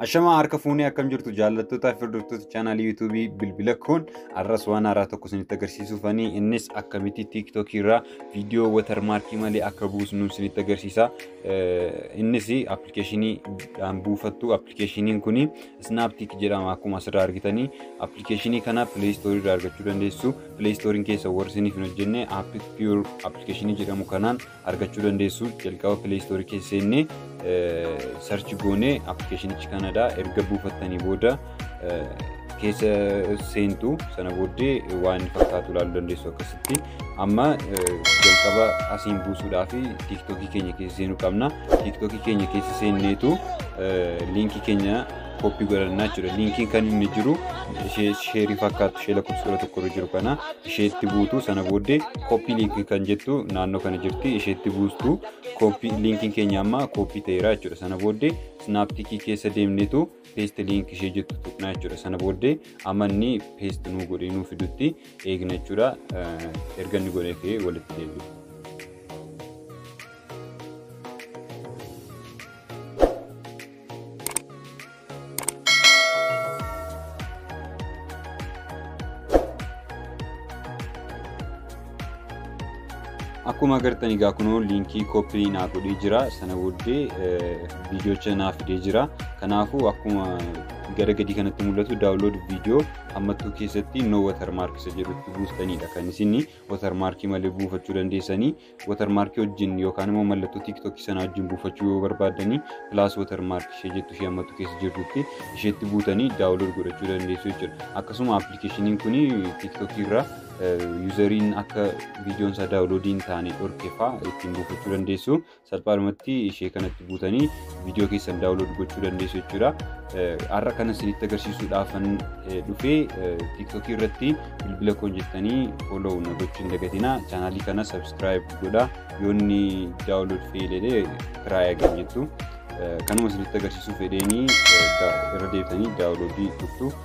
Ashamaa harka fuunee akkam jirtu jaallattoota fi hordoftoota chaanaalii yuutuubii bilbila koon arras waan haaraa tokko isinitti agarsiisuufanii innis akkamitti tiiktookii irraa viidiyoo watarmaarkii malee akka buusnu isinitti agarsiisa. Innis appilikeeshinii dhaan buufattu appilikeeshiniin kun Snaptic jedhama akkuma asirraa argitanii appilikeeshinii kana play store irraa argachuu dandeessu play store keessa warri isiniif hin hojjenne app pure appilikeeshinii jedhamu kanaan argachuu dandeessu jalqaba play store keessa seenne sarchi goone appilikeeshinichi kanadha erga buufattanii booda keessa seentu sana booddee waan fakkaatu ilaaluu dandeessu akkasitti amma jalqaba asiin buusuudhaaf tiiktookii keenya keessa seenuu qabna. Tiiktookii keenya keessa seenneetu liinkii keenya koppii godhannaa jechuudha. Liinkiin kan inni jiru ishee sheerii fakkaatu ishee lakkoofsa kudha tokko irra jiru kana isheetti buutu sana booddee koppii liinkii kan jettu naannoo kana jirti isheetti buustu koppii liinkiin keenya amma koppii ta'eera jechuudha. Sana booddee snaaptikii keessa deemneetu paste link ishee jettu tuqnaa jechuudha sana booddee amma inni paste nuu godhee nuu fidutti eegna jechuudha erga inni godhee fi walitti deebi'u. Akkuma agartan egaa kunoo liinkii koppii naa godhee jira sana booddee viidiyocha naa fidee jira kanaafuu akkuma gara gadii kanatti mul'atu daawunlood viidiyoo hammattuu keessatti no watermark isa jedhutti buustanidha kan isin watermarkii malee buufachuu dandeessanii watermarkii wajjin yookaan immoo mallattoo tiiktookii sana wajjin buufachuu yoo barbaadanii pilaas watermark ishee jettu ishee hammattuu keessa jirtutti isheetti buutanii daawunlood godhachuu dandeessu jechuudha akkasuma appilikeeshiniin kun tiiktookii irraa yuuzariin akka viidiyoon isaa daawuloodii hin taane dhorke fa'aa ittiin buufachuu dandeessu. Salphaadhumatti ishee kanatti buutanii viidiyoo keessan daawulood gochuu dandeessu jechuudha. Har'a kana isinitti agarsiisuudhaafan dhufee tiiktookii irratti bilbila koon jettanii fooloo na gochuu hin dagatinaa. Chaanaalii kana sabskiraayib godhaa. Yoonni daawulood feeyilee kiraayaa gad jettu. Kanuma isinitti agarsiisuu fedheenii irra deebitanii daawuloodii dhuftu.